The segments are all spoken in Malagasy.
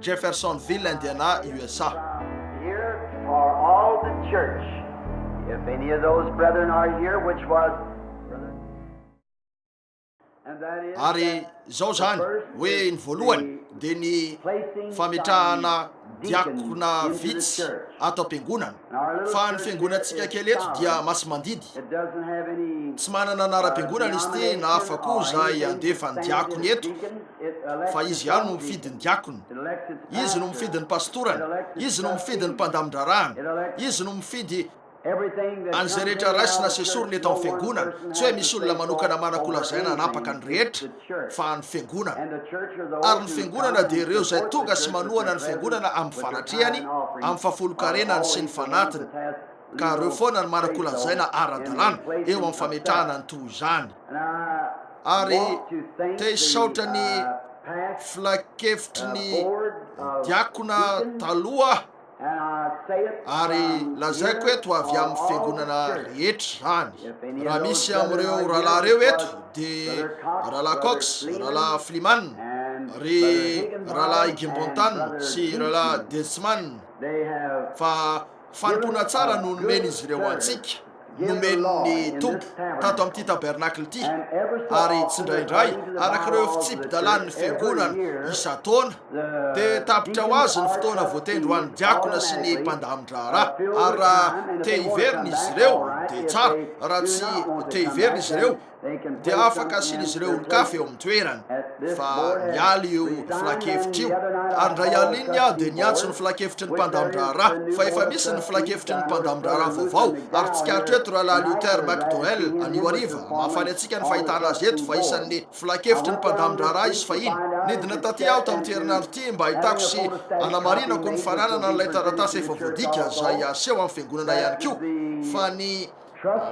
Jeffersonville, Indiana, USA. Ary izao izany hoe ny voalohany dia ny fametrahana diakona vitsy ato am-piangonana. Fa ny fiangonantsika kely eto dia masimandidy. Tsy manana anaram-piangonana izy ity na afa-ko izay andefa ny diakony eto. fa izy ihany no mifidy ny diakona, izy no mifidy ny pastorany, izy no mifidy ny mpandamin-draharahany, izy no mifidy an'izay rehetra raisina sy esorina eto amin'ny fiangonana. Tsy hoe misy olona manokana manan-kolazaina hanapaka ny rehetra, fa ny fiangonana. Ary ny fiangonana dia ireo izay tonga sy manohana ny fiangonana amin'ny fanatrehany, amin'ny fahafolonkarenany sy ny fanatiny. ka reo foana no manakolantsaina ara-dalàna eo amin'ny fametrahana ny toa izany ary te hisaotra ny filankevitry ny diakona taloha ary lazaiko eto avy amin'ny fiangonana rehetra izany raha misy amin'ireo rahalahy reo eto de rahalahy Cox, rahalahy Fliman, ry rahalahy Gimbontan sy rahalahy Delsman fa Fanompoana tsara no nomen'izy ireo antsika, nomen'ny Tompo tato amin'ity tabernacle ity, ary tsindraindray, araka ireo fitsipi-dalàn'ny Fiangonana isan-taona, dia tapitra ho azy ny fotoana voatendry ho an'ny diakona sy ny mpandamin-draharaha. Ary raha te hiverina izy ireo, dia tsara, raha tsy te hiverina izy ireo, dia afaka asian'izy ireo olon-kafa eo amin'ny toerany, fa niala io filankevitra io, ary indray alininy aho dia niantso ny filankevitry ny mpandamin-draharaha, fa efa misy ny filankevitry ny mpandamin-draharaha vaovao, ary tsikaritra eto Rahalahy Luther McDowell, anio hariva, mahafaly antsika ny fahitana azy eto, fa isan'ny filankevitry ny mpandamin-draharaha izy fahiny. Nidina tatỳ aho tamin'ity herinandro ity mba hahitako sy hanamarinako ny fananana an'ilay taratasy efa voadika, izay haseho amin'ny fiangonana ihany koa, fa ny.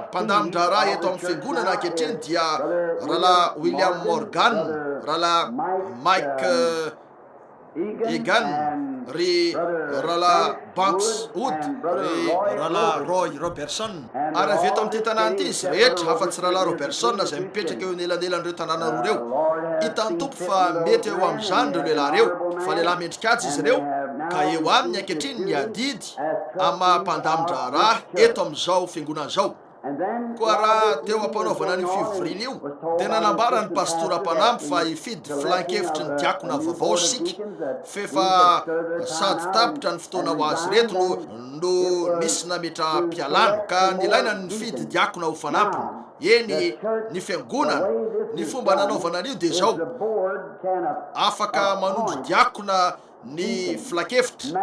Mpandami-draharaha eto amin'ny Fiangonana ankehitriny dia Rahalahy William Morgan, Rahalahy Mike Egan, ry Rahalahy Banks Wood, ry Rahalahy Roy Roberson, ary avy eto amin'ity tanàna ity izy rehetra, afa-tsy Rahalahy Roberson izay mipetraka eo anelanelan'ireo tanàna roa ireo. Hitan'ny Tompo fa mety eo amin'izany ireo lehilahy ireo, fa lehilahy mendrika haja izy ireo, ka eo aminy ankehitriny ny adidy. Baiboly amin'ny maha mpandamin-draharaha eto amin'izao fiangonana izao. Koa raha teo am-panaovana an'io fivoriana io, dia nanambara ny pastora mpanampy fa hifidy filan-kevitry ny diakona vaovao isika, f'efa sady tapitra ny fotoana ho azy ireto no nisy nametraham-pialana, ka nilaina ny nifidy diakona ho fanampiny. Eny, ny fiangonana, ny fomba nanaovana an'io dia izao, afaka manondro diakona, ny filankevitra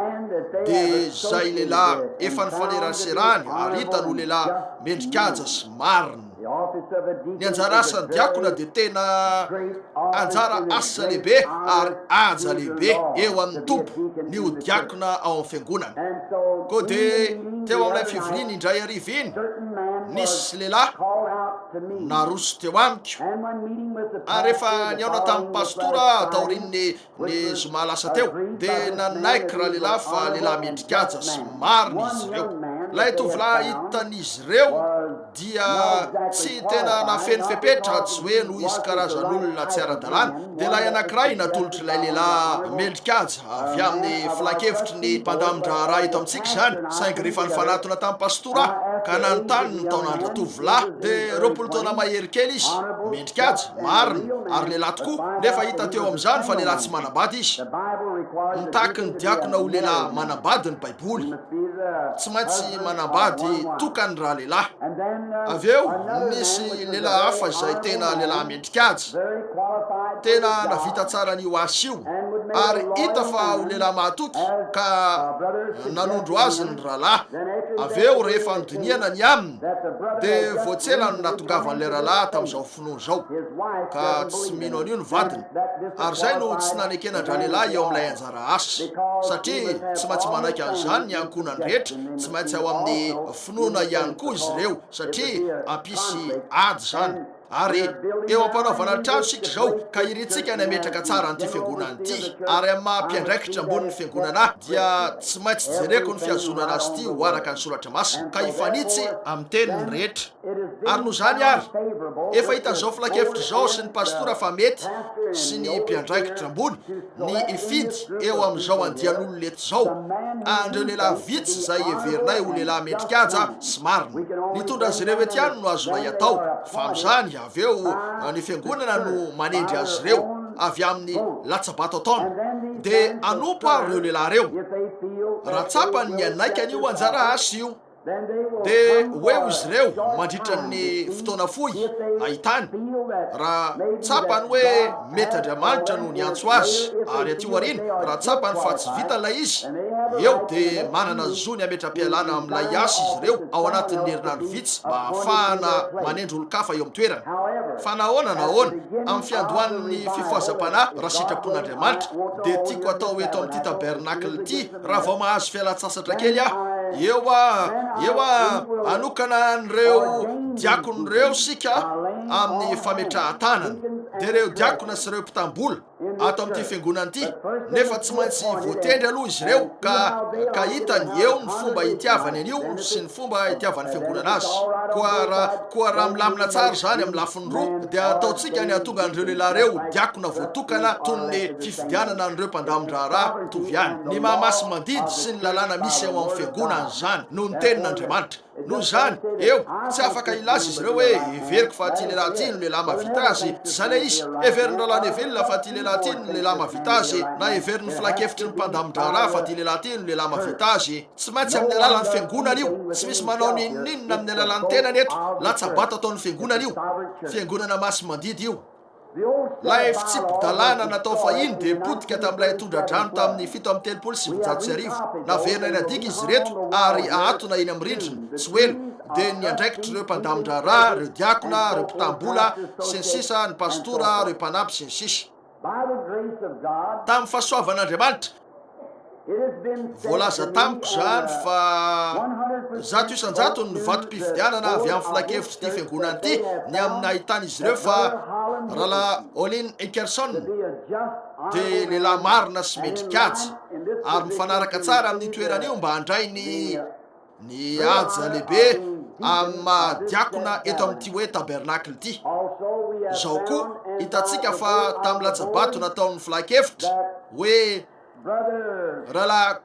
dia zay lehilahy efa nifaneraserany ary hitany ho lehilahy mendrikaja sy marina. Ny anjara asan'ny diakona dia tena anjara asa lehibe ary haja lehibe eo amin'ny Tompo ny ho diakona ao amin'ny fiangonana. Koa dia teo amin'ilay fivoriana indray hariva iny, nisy lehilahy naroso teo amiko ary rehefa nihaona tamin'ny pastora aho taorian'ny Ny zoma lasa teo, dia nanaiky ralehilahy fa lehilahy mendri-kaja sy marina izy ireo. Ilay tovolahy hitan'izy ireo dia tsy tena nafeno fepetra, tsy hoe noho izy karazan'olona tsy ara-dalàna, dia ilay anankiray natolotr'ilay lehilahy mendri-kaja avy amin'ny filankevitry ny mpandamin-draharaha eto amintsika izany, saingy rehefa nifanatona tamin'ny pastora aho ka nanontany ny taonan'ra-tovolahy, dia roapolo taona mahery kely izy. Dikajy, marina, ary lehilahy tokoa, nefa hita teo amin'izany fa lehilahy tsy manambady izy. Mitaky ny diakona ho lehilahy manambady ny Baiboly. Tsy maintsy manambady tokany raha lehilahy. Avy eo, nisy lehilahy hafa izay tena lehilahy mendrikajy. Tena navita tsara an'io asa io, ary hita fa ho lehilahy mahatoky, ka nanondro azy ny rahalahy. Avy eo, rehefa nodinihana ny aminy, Dia vao tsy ela no nahatongavan'ilay rahalahy tamin'izao finoana izao, ka tsy mino an'io ny vadiny. Ary izay no tsy nanekenan-dralehilahy eo amin'ilay anjara asa, satria tsy maintsy manaiky an'izany ny ankohonany rehetra, tsy maintsy ao amin'ny finoana ihany koa izy ireo, satria hampisy ady izany. Ary eo am-panaovana trano isika izao, ka irintsika ny hametraka tsara an'ity Fiangonana ity. Ary amin'ny maha mpiandraikitra ambonin'ny Fiangonana ahy, dia tsy maintsy jereko ny fihazonana azy ity ho araka ny Soratra Masina, ka hifanitsy amin'ny teniny rehetra. Ary noho izany àry, efa hitan'izao filankevitra izao sy ny pastora fa mety, sy ny mpiandraikitra ambony, ny hifidy eo amin'izao andian'olona eto izao, an'ireo lehilahy vitsy izay heverinay ho lehilahy mendri-kaja sy marina. Ny tondra azy ireo eto ihany no azonay atao, fa amin'izany avy eo ny Fiangonana no manendry azy ireo avy amin'ny latsa-bato ataony, dia hanompo àry ireo lehilahy ireo, raha tsapany ny hanaika an'io anjara asa io. Dia hoe ho'izy ireo mandritra ny fotoana fohy hahitany, raha tsapany hoe mety Andriamanitra no niantso azy, ary aty aoriana raha tsapany fa tsy vita ilay izy, eo dia manana ny zony hametra-pialana amin'ilay asa izy ireo ao anatin'ny herinandro vitsy mba hahafahana manendry olon-kafa eo amin'ny toerana. Fa na ahoana na ahoana, amin'ny fiandohan'ny fifohazam-panahy, raha sitrapon'Andriamanitra, dia tiako hatao eto amin'ity tabernacle ity, raha vao mahazo fialan-tsasatra kely aho. Eo a, eo a, anokana an'ireo diakona ireo sika amin'ny fametrahan-tanana. Dia ireo diakona sy ireo mpitambola ato amin'ity fiangonana ity, nefa tsy maintsy voatendry aloha izy ireo ka ka hitany eo ny fomba hitiavany an'io sy ny fomba itiavan'ny fiangonana azy. Koa raha, koa raha milamina tsara izany amin'ny lafiny roa, dia ataontsika ny hahatonga an'ireo lehilahy ireo ho diakona voatokana toy ny fifidianana an'ireo mpandamin-draharaha mitovy ihany. Ny maha masi-mandidy sy ny lalàna misy ao amin'ny fiangonana izany no ny Tenin'Andriamanitra. Noho izany, eo, tsy afaka hilaza izy ireo hoe, Heveriko fa ity lehilahy ity no lehilahy mahavita azy. Tsy izay ilay izy. Heverin'ny Rahalahy Neville fa ity lehilahy ity no lehilahy mahavita azy, na heverin'ny filankevitry ny mpandamin-draharaha fa ity lehilahy ity no lehilahy mahavita azy. Tsy maintsy amin'ny alalan'ny fiangonana io. Tsy misy manao n'inon'inona amin'ny alalan'ny tenany eto. Latsa-bato ataon'ny fiangonana io. Fiangonana masi-mandidy io. Ilay fitsipi-dalàna natao fahiny dia potika tamin'ilay tondra-drano tamin'ny fito amby telopolo sy sivinjato sy arivo. Naverina eny an-diaka izy ireto ary ahatona eny amin'ny rindrina. Tsy ho ela dia ny andraikitr'ireo mpandamin-draharaha, ireo diakona, ireo mpitam-bola, sy ny sisa, ny pastora, ireo mpanampy, sy ny sisa. Tamin'ny fahasoavan'Andriamanitra. Voalaza tamiko izany fa zato isan-jatony ny vatom-pifidianana avy amin'ny filankevitr'ity fiangonana ity ny amin'ny nahitan'izy ireo fa Rahalahy Olin Hickerson dia lehilahy marina sy mendri-kajy ary mifanaraka tsara amin'io toerana io mba handray ny Ny haja lehibe amin'ny maha diakona eto amin'ity hoe tabernacle ity. Izao koa, hitantsika fa tamin'ny latsa-bato nataon'ny filankevitra hoe Rahalahy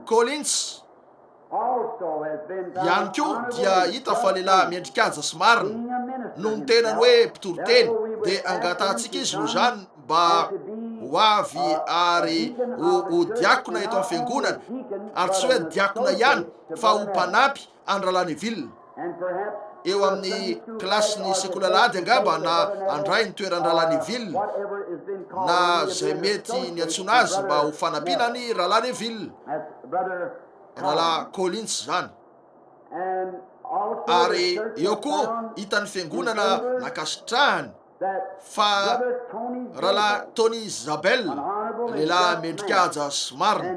Collins ihany koa dia hita fa lehilahy mendri-kaja sy marina, noho ny tenany hoe mpitoriteny, dia angatahantsika izy noho izany mba ho avy ary ho ho diakona eto amin'ny Fiangonana, ary tsy hoe diakona ihany fa ho mpanampy an-dRahalahy Neville, eo amin'ny kilasin'ny sekoly alahady angamba, na handray ny toeran-dRahalahy Neville, na izay mety niantsoana azy mba ho fanampiana an'i Rahalahy Neville, Rahalahy Collins izany. Ary eo koa hitan'ny Fiangonana nankasitrahany. fa Rahalahy Tony Zabel, lehilahy mendri-kaja sy marina,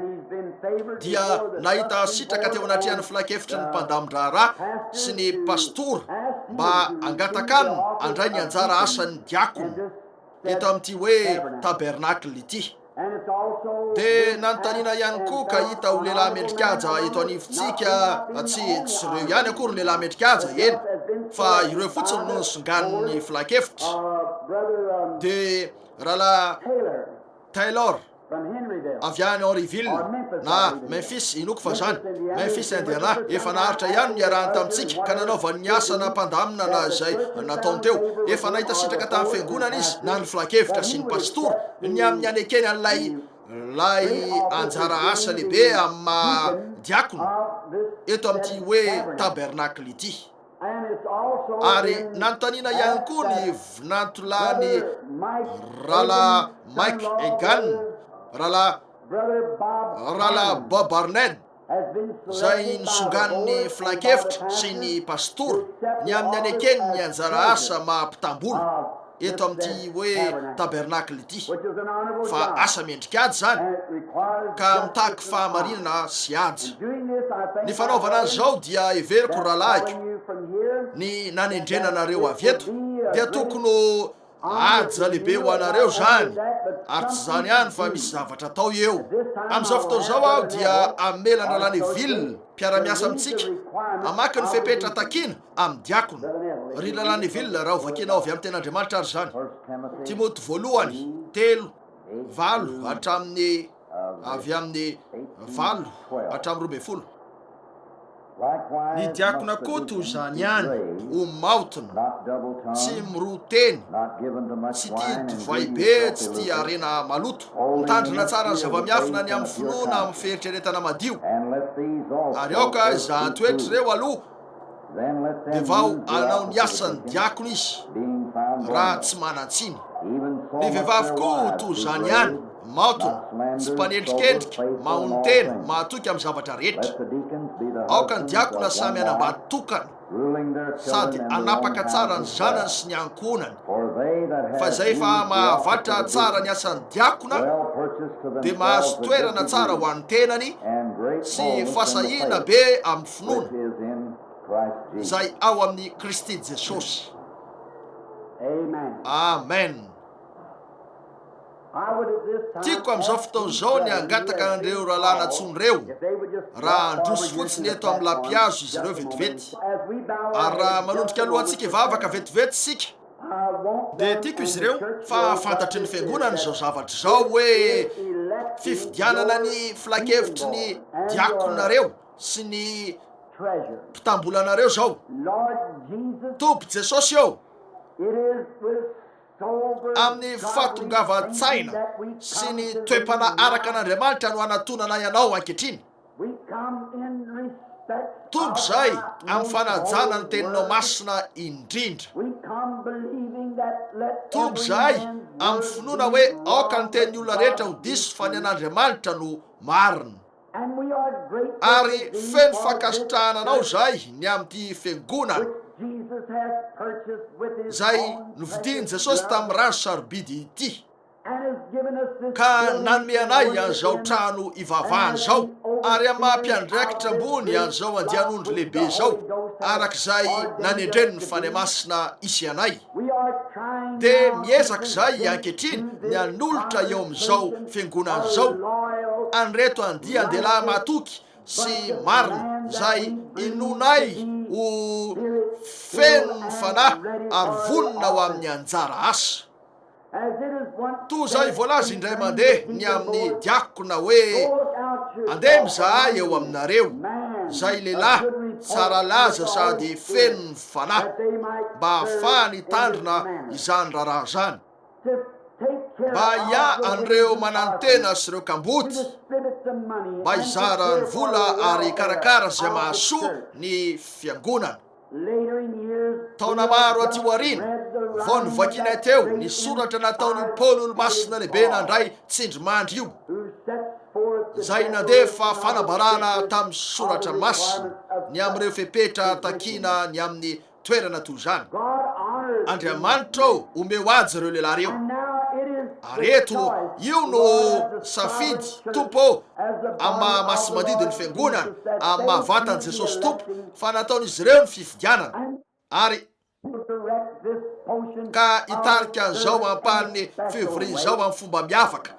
dia nahita sitraka teo anatrehan'ny filankevitry ny mpandamin-draharaha sy ny pastora mba hangataka aminy handray ny anjara asan'ny diakona eto amin'ity hoe tabernacle ity. Dia nanontaniana ihany koa ka hita ho lehilahy mendrikaja eto anivontsika fa tsy tsy ireo ihany akory lehilahy mendrikaja, eny fa ireo fotsiny no nisonganin'ny filankevitra. Dia rahalahy Taylor avy any Henryville na Memphis, inoako fa zany, Memphis Indiana, efa naharitra ihany niarahany tamintsika ka nanaovany ny asa na mpandamina na izay nataony teo. Efa nahita sitraka tamin'ny fiangonana izy na ny filankevitra sy ny pastora. ny amin'ny anekeny an'ilay lay anjara asa lehibe amin'ny maha diakona eto amin'ity hoe tabernakle ity. Ary nanontaniana ihany koa ny vinantolany Rala Mike Egan, Rala Rala Bob Arnett, izay nosonganin'ny filankevitra sy ny pastora ny amin'ny hanekeny ny anjara asa maha mpitam-bola eto amin'ity hoe tabernacle ity, fa asa mendrik'ady izany ka mitaky fahamarinana sy haja. Ny fanaovana an'izao dia heveriko rahalahiko, ny nanendrena anareo avy eto dia tokony ho Haja lehibe ho anareo izany, ary tsy izany ihany fa misy zavatra atao eo. Amin'izao fotoana izao aho dia hamela an-dRalahy Neville, mpiara-miasa amintsika, hamaky ny fepetra takiana amin'ny diakona. Ry Rahalahy Neville, raha hovakianao avy amin'ny Tenin'Andriamanitra àry izany, Timoty Voalohany, telo, valo hatramin'ny. avy amin'ny valo hatramin'ny roa ambin'ny folo. Ny diakona koa toy izany ihany, ho maotina, tsy miroa teny, tsy tia divay be, tsy tia harena maloto. Mitandrina tsara ny zava-miafina ny amin'ny finoana amin'ny fieritreretana madio, ary aoka izahan-toetra ireo aloha. dia vao hanao ny asan'ny diakona izy raha tsy manan-tsiny. Ny vehivavy koa toa izany ihany, maotona, tsy mpanendrikendrika, mahonon-tena, mahatoky amin'ny zavatra rehetra. Aoka ny diakona samy hanambady tokana sady hanapaka tsara ny zanany sy ny ankohonany. Fa izay efa mahavatra tsara ny asan'ny diakona dia mahazo toerana tsara ho an'ny tenany sy fasahiana be amin'ny. finoana izay ao amin'i Kristy Jesosy. Amen. Tiako amin'izao fotoana izao ny hangataka an'ireo rahalahy natsoiny ireo, raha handroso fotsiny eto amin'ny lapihazo izy ireo vetivety. Ary raha manondrika alohantsika hivavaka vetivety isika, dia tiako izy ireo fa hahafantatry ny Fiangonana izao zavatra izao hoe fifidianana ny filankevitry ny diakonareo. sy ny mpitambolanareo zao. Tompo Jesosy ô! Amin'ny fahatongavan-tsaina sy ny toe-panahy araka an'Andriamanitra no anatonanay Anao ankehitriny. Tonga izay amin'ny fanajana ny Teninao Masina indrindra. Tonga izahay amin'ny finoana hoe aoka ny tenin'ny olona rehetra ho diso fa ny an'Andriamanitra no marina. Ary feno fankasitrahana anao izahay ny amin'ity Fiangonana izay novidian'i Jesosy tamin'ny rany sarobidy ity, ka nanome anay an'izao trano ivavahana izao, ary amin'ny maha-mpiandraikitra ambony an'izao andian'ondry lehibe izao, araka izay nanendren'ny Fanahy Masina isy anay. dia miezaka izahay ankehitriny ny hanolotra eo amin'izao fiangonana izao an'ireto andian-dehilahy matoky sy marina, izay inoanay ho feno ny Fanahy ary vonona ho amin'ny anjara asa. Toa izay voalaza indray mandeha ny amin'ny diakona hoe, Andeha mizahay eo aminareo izay lehilahy tsara laza sady feno ny fanahy, mba hahafahany hitandrina izany raharaha izany. Mba hiahy an'ireo mananontena sy ireo kamboty, mba hizara ny vola ary hikarakara izay mahasoa ny fiangonana. Taona maro aty aoriana vao novakianay teo ny soratra nataon'io Paoly Olomasina Lehibe nandray tsindrimandry io, izay nandefa fanambarana tamin'ny soratra masina ny amin'ireo fepetra takiana ny amin'ny toerana toy izany. Andriamanitra ô, omeo aja ireo lehilahy ireo. Ary eto, io no safidy, Tompo ô, amin'ny maha masi-mandidy ny Fiangonana, amin'ny maha vatan'i Jesosy Tompo, fa nataon'izy ireo ny fifidianana ary ka hitarika an'izao ampahan'ny février izao amin'ny fomba miavaka,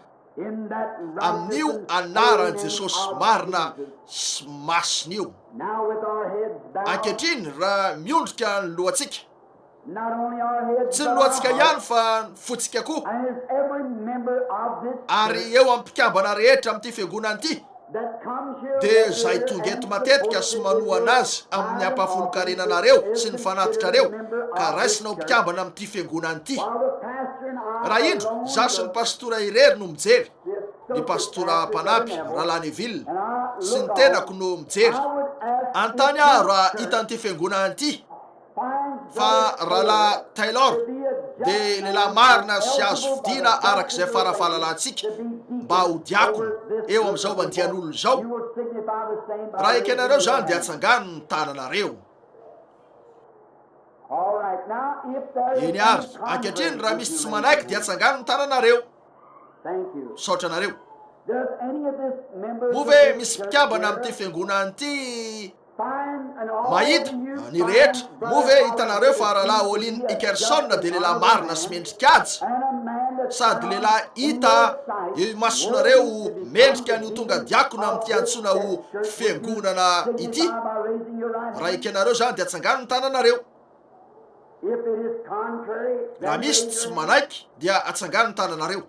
amin'io anaran'i Jesosy marina sy masina io. Ankehitriny, raha miondrika ny lohantsika, Tsy ny lohantsika ihany fa ny fontsika koa. Ary eo amin'ny mpikambana rehetra amin'ity fiangonana ity, dia izay tonga eto matetika sy manohana azy amin'ny hampahafolon-karena anareo sy ny fanatitrareo, ka raisina ho mpikambana amin'ity fiangonana ity. Raha indro, izaho sy ny pastora irery no mijery, ny pastora mpanampy, Rahalahy Neville, sy ny tenako no mijery. Anontany aho raha hitan'ity fiangonana ity. Fa Rahalahy Taylor dia lehilahy marina sy azo fidiana araka izay fara-fahalalantsika mba ho diakona eo amin'izao andian'olona izao. Raha ekenareo izany dia atsangano ny tananareo. Eny ary, ankehitriny raha misy tsy manaiky dia atsangano ny tananareo. Misaotra anareo. Moa ve misy mpikambana amin'ity fiangonana ity? Mahita ny rehetra. Moa ve hitanareo fa Rahalahy Olin Ikerson dia lehilahy marina sy mendri-kaja? Sady lehilahy hita eo imasonareo mendrika ny ho tonga diakona amin'ity antsoina ho Fiangonana ity? Raha ekenareo izany dia atsangano ny tananareo. Raha misy tsy manaiky dia atsangano ny tananareo.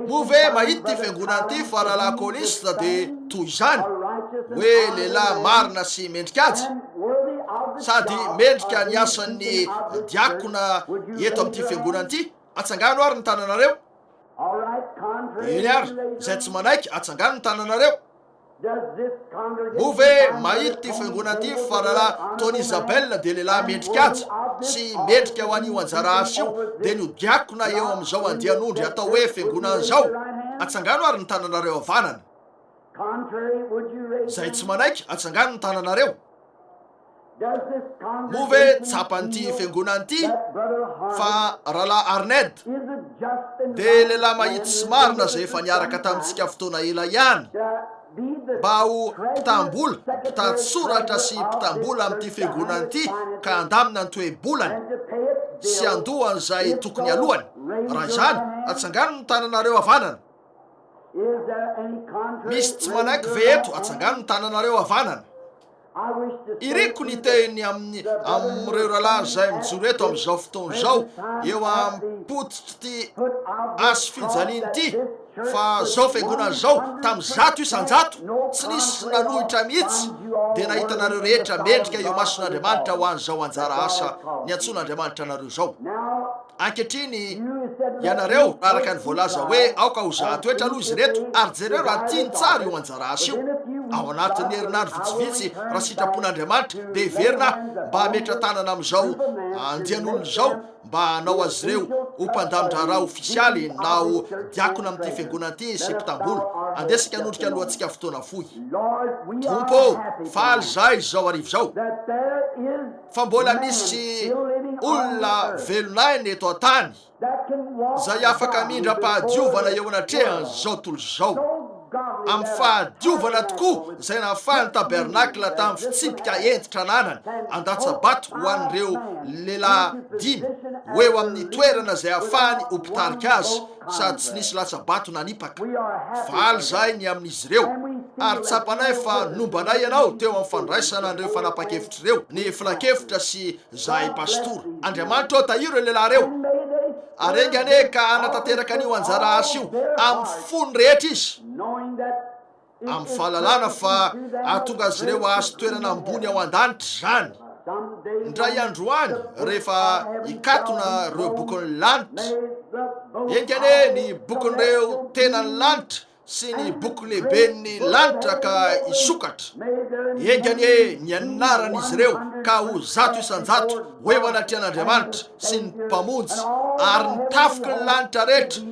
Moa ve mahita ity fiangonana ity fa rahalahy Coliste dia toy izany, hoe lehilahy marina sy mendri-kaja, sady mendrika ny asan'ny diakona eto amin'ity fiangonana ity? Atsangano àry ny tananareo. Eny àry, izay tsy manaiky, atsangano ny tananareo. Moa ve mahita ity fiangonana ity fa Rahalahy Tony Isabella dia lehilahy mendry kaja sy mendrika ho an'io anjara asa io, dia ny ho diakona eo amin'izao andian'ondry atao hoe fiangonana izao? Atsangano ary ny tananareo havanana izay tsy manaiky, atsangano ny tananareo. Moa ve tsapan'ity fiangonana ity fa Rahalahy Arned dia lehilahy mahitsy sy marina izay efa niaraka tamintsika fotoana ela ihany mba ho mpitam-bola, mpitan-tsoratra sy mpitam-bola amin'ity fiangonana ity ka handamina ny toe-bolany sy handoa an'izay tokony halohany? Raha izany, atsangano ny tananareo havanana. Misy tsy manaiky ve eto? Atsangano ny tananareo havanana. Iriko ny hiteny amin'ny amin'ireo rahalahy izay mijoro eto amin'izao fotoana izao eo am-pototr'ity aso fijaliana ity fa zao fiangonana zao tam zato isanjato tsy nisy nanohitra mihitsy dia nahitanareo rehetra mendrika eo mason'Andriamanitra ho an'izao anjara asa niantsoan'Andriamanitra anareo zao. Ankehitriny, ianareo, araka ny voalaza hoe aoka ho zahatoetra aloha izy ireto, ary jereo raha tiany tsara io anjara asa io. Ao anatin'ny herinandro vitsivitsy, raha sitrapon'Andriamanitra, dia heverina aho mba hametra-tanana amin'izao andian'olona izao mba hanao azy ireo ho mpandamin-draharaha ofisialy na ho diakona amin'ity fiangonana ity sy mpitam-bola. Andesika hanondrika alohantsika fotoana fohy. Tompo ô, faly izahay izao hariva izao. fa mbola misy olona velon'aina eto an-tany izay afaka hamindram-pahadiovana eo anatrehan'izao tontolo izao, amin'ny fahadiovana tokoa izay nahafahan'ny tabernakla tamin'ny fitsipika hentitra ananany handatsa-bato ho an'ireo lehilahy dimy ho eo amin'ny toerana izay hahafahany ho mpitarika azy sady tsy nisy latsa-bato nanipaka. Faly izahay ny amin'izy ireo, ary tsapanay fa nombanay ianao teo amin'ny fandraisana an'ireo fanapahan-kevitra ireo, ny filankevitra sy izahay pastora. Andriamanitra ô, tahiro ireo lehilahy ireo, ary enga anie ka hanatanteraka an'io anjara asa io amin'ny fony rehetra izy. amin'ny fahalalana fa hahatonga azy ireo hahazo toerana ambony ao an-danitra izany. Indray andro any, rehefa hikatona ireo bokin'ny lanitra, enga anie ny bokin'ireo tenan'ny lanitra sy ny boky lehiben'ny lanitra ka hisokatra, enga anie ny anaran'izy ireo ka ho zato isan-jato ho eo anatrehan'Andriamanitra sy ny Mpamonjy ary ny tafiky ny lanitra rehetra,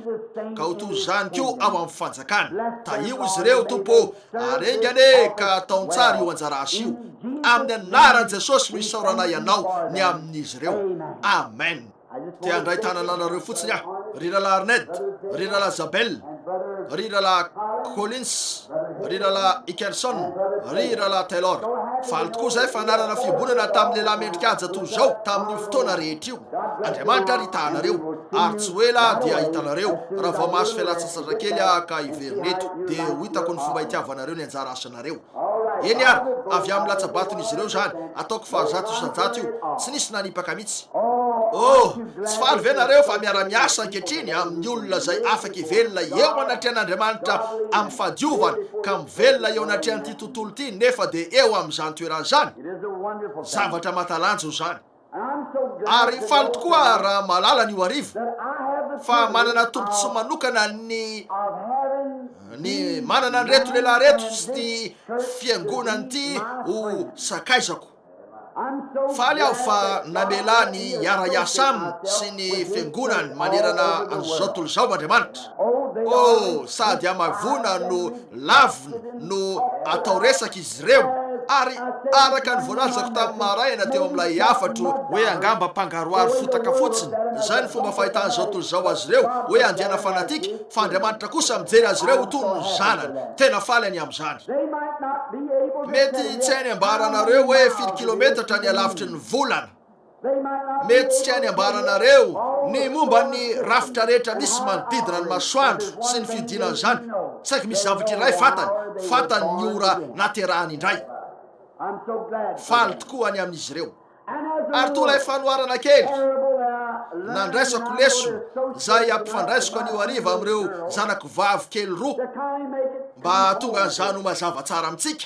ka ho toy izany koa ao amin'ny fanjakany. Tahio izy ireo, Tompo ô, ary enga anie ka ataon tsara io anjara asa io. Amin'ny anaran'i Jesosy no isaoranay Anao ny amin'izy ireo. Amen. Te handray tanana anareo fotsiny aho, ry Rahalahy Arnett, ry Rahalahy Zabel. ry Rahalahy Collins, ry Rahalahy Hickerson, ry Rahalahy Taylor. Faly tokoa izay fanarana fiombonana tamin'ny lehilahy mendrika haja toy izao tamin'io fotoana rehetra io. Andriamanitra ary hitahanareo, ary tsy ho ela dia hahitanareo raha vao mahazo fialantsasatra kely aho ka hiverina eto, dia ho hitako ny fomba hitiavanareo ny anjara asanareo. Eny ary, avy amin'ny latsa-baton'izy ireo izany, ataoko fahazato isan-jato io, tsy nisy nanipaka mihitsy. Oh, tsy faly ve nareo fa miara-miasa ankehitriny amin'ny olona izay afaka hivelona eo anatrehan'Andriamanitra amin'ny fahadiovana ka mivelona eo anatrehan'ity tontolo ity nefa dia eo amin'izany toerana izany? Zavatra mahatalanjona izany! Ary faly tokoa raha mahalala an'io hariva fa manana tombontsoa manokana ny ny manana an'ireto lehilahy ireto sy ity fiangonana ity ho sakaizako. Faly aho fa namela ny hiara-hiasa aminy sy ny fiangonany manerana an'izao tontolo izao Andriamanitra. Oh, sady hamaivoana no lavina no atao resaka izy ireo. Ary araka ny voalazako tamin'ny maraina teo amin'ilay hafatro hoe angamba mpangaroharo fotaka fotsiny, izay ny fomba fahitan'izao tontolo izao azy ireo, hoe andiana fanatika, fa Andriamanitra kosa mijery azy ireo ho toy ny zanany. Tena faly any amin'izany. Mety tsy hainy ambara anareo hoe firy kilometatra ny halavitry ny volana. Mihetsika any ambaranareo ny momba ny rafitra rehetra misy manodidina ny masoandro sy ny fiodinany izany. Saiky misy zavatra iray fantany, fantany ny ora naterahany indray. Faly tokoa ny amin'izy ireo. Ary toa ilay fanoharana kely nandraisako lesona izay ampifandraisiko anio hariva amin'ireo zanako vavy kely roa, mba hahatonga an'izany ho mazava tsara amintsika,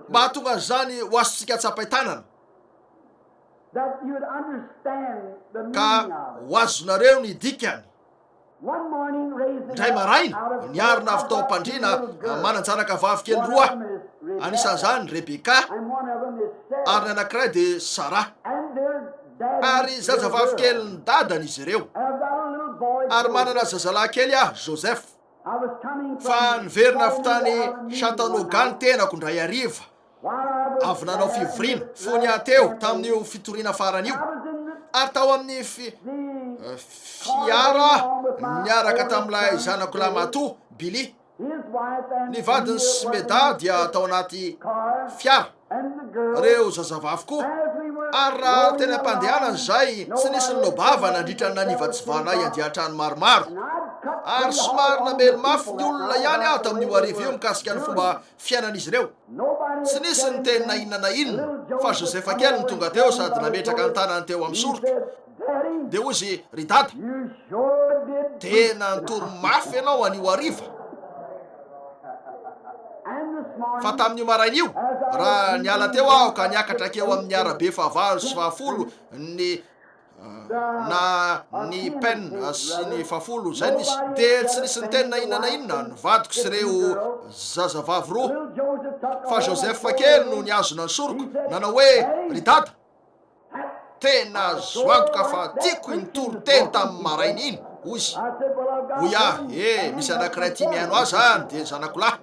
mba hahatonga an'izany ho azontsika tsapain-tanana, ka ho azonareo ny dikany. Indray maraina, niarina avy tao am-pandriana manan-janaka vavikely roa, anisan'izany Rebeka, ary ny anankiray dia Sara, ary zazavavikelin-dadany izy ireo, ary manana zazalahy kely aho, Joseph. fa niverina avy tany Chattanooga ny tenako indray hariva, avy nanao fivoriana fony aho teo tamin'io fitoriana farany io, ary tao amin'ny fi, fiara niaraka tamin'ilay zanako lahimatoa, Billy. Ny vadin'i Smeda dia tao anaty fiara. ireo zazavavy koa, ary raha teny am-pandehanana izay tsy nisy nilao-bava nandritra ny nanivatsivànay andian-trano maromaro, ary somary namely mafy ny olona ihany aho tamin'io hariva io mikasika ny fomba fiainan'izy ireo. Tsy nisy niteny na inona na inona, fa Joseph kely no tonga teo sady nametraka ny tanany teo amin'ny soroka. Dia hoy izy, Ry Dada, dia nanontolo mafy ianao anio hariva, fa tamin'io maraina io, raha niala teo aho ka niakatra hakeo amin'ny arabe fahavalo sy fahafolo ny na ny pen sy ny fafolo zay no izy dia tsy nisy ny teny na inona na inona ny vadiko sy ireo zazavavy roa fa Joseph kely no niazona ny soroko nanao hoe ry dada Tena azo antoka fa tiako iny toriteny tamin'ny maraina iny, hoy izy. Hoy aho, E, misy anankiray tia mihaino ahy izany, dia ny zanako lahy.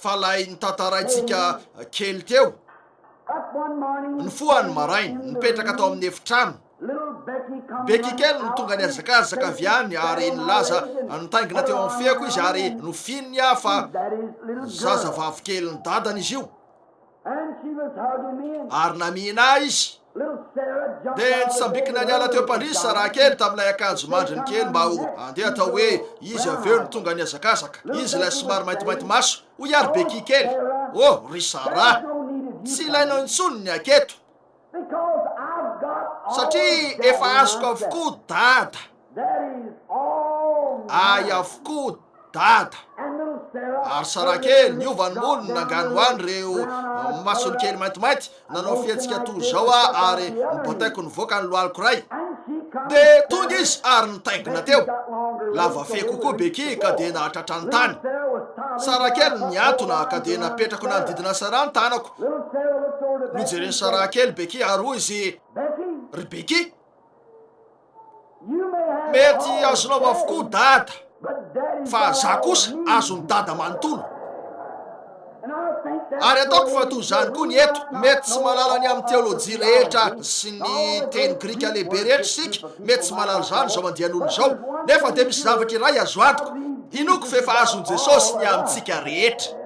Fa ilay notantaraintsika kely teo, nifoha ny maraina, nipetraka tao amin'ny efitrano, Becky kely no tonga nihazakazaka avy any ary nilaza nitaingina teo amin'ny feoko izy ary nofininy aho fa zazavavy kelin'ny dadany izy io. Ary namihina ahy izy. Dia nitsambikina niala teo am-pandrizy Saraha kely tamin'ilay akanjo mandriny kely mba ho andeha hatao hoe izy avy eo no tonga nihazakazaka. Izy ilay somary maintimainty maso, hoy ary bekia kely. Oh, ry Saraha! Tsy ilainao intsony ny aketo. Satria efa azoko avokoa Dada. Ahy avokoa Dada. Ary Sarakely niova ny molony nangano ahy ireo masony kely maintimainty, nanao fihetsika toy izao aho ary nobotaiko nivoaka ny lohaliko iray. Dia tonga izy ary nitaingina teo. Lava fehy kokoa Becky ka dia nahatratra ny tany. Sarakely nihantona ka dia napetrako nanodidina Sarah ny tanako. Nojeren'i Saraha kely Becky ary hoy izy, Ry Becky, mety azonao avokoa Dada, fa za kosa azon'i Dada manontolo. Ary ataoko fa toy izany koa ny eto, mety tsy malala ny amin'ny teolojia rehetra sy ny teny grika lehibe rehetra isika, mety tsy malala izany izao andian'olona izao, nefa dia misy zavatra iray azo antoka, inoako fa efa azon'i Jesosy ny amintsika rehetra.